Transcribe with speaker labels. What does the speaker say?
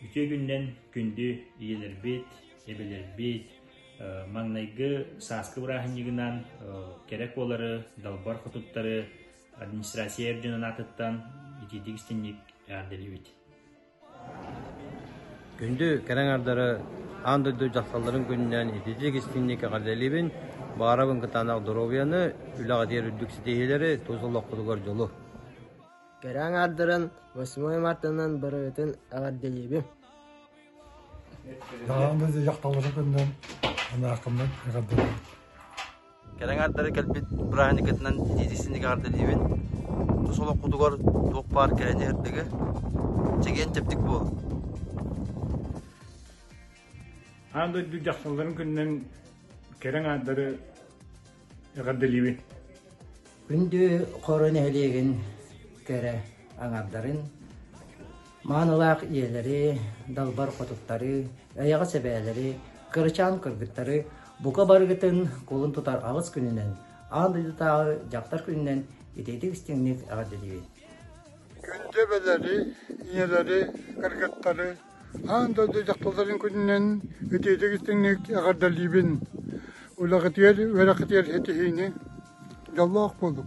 Speaker 1: Үтүө күнүнэн күндү ийэлэрбит, эбэлэрбит, маҥнайгы сааскы бырааһынньыгынан кэрэ куолары, далбар хотуттары администрация эр дьон анаатыттан итиитик истинник эҕэрдэлиибит.
Speaker 2: Күндү кэрэ аҥардары аан дойду дьахталларын күнүнэн ититии гостиниика эҕэрдэлиибин, баҕарабын кытаанах доруобуйаны, үлэҕитигэр үрдүк ситиһиилэри, тус олоххутугар дьолу! Кэрэ
Speaker 3: аҥаардарын восьмое мартынан барыгытын эҕэрдэлиибин!
Speaker 4: Аан дойду дьахталларын күнүнэн анаахымнан эҕэрдэлиибин
Speaker 2: кэлэ эҥээрдэри кэлбит бырааһынньыккытынан итиитик истинник эҕэрдэлиибин тус олоххутугар туох баар кэрэни эрдэгэ чэгиэн чэбдик буолун
Speaker 4: аан дойду дьахталларын күнүнэн кэрэ аҥаардары эҕэрдэлиибин
Speaker 5: күндү хоро нэһилиэгин кэрэ аҥардарын маанылаах ийэлэри, далбар хотуттары, эйэҕэс эбээлэри, кырачаан кыргыттары бука барыгытын кулун тутар аҕыс күнүнэн, аан дойдутааҕы дьахтар күнүнэн итиитик истиҥник эҕэрдэлиибин. Күндү
Speaker 4: эбэлэри, ийэлэри, кыргыттары аан дойду дьахталларын күнүнэн итиитик истиҥник эҕэрдэлиибин. Улаҕытыгар, үөрэхитигэр ситиһиини, дьоллоох буолуҥ.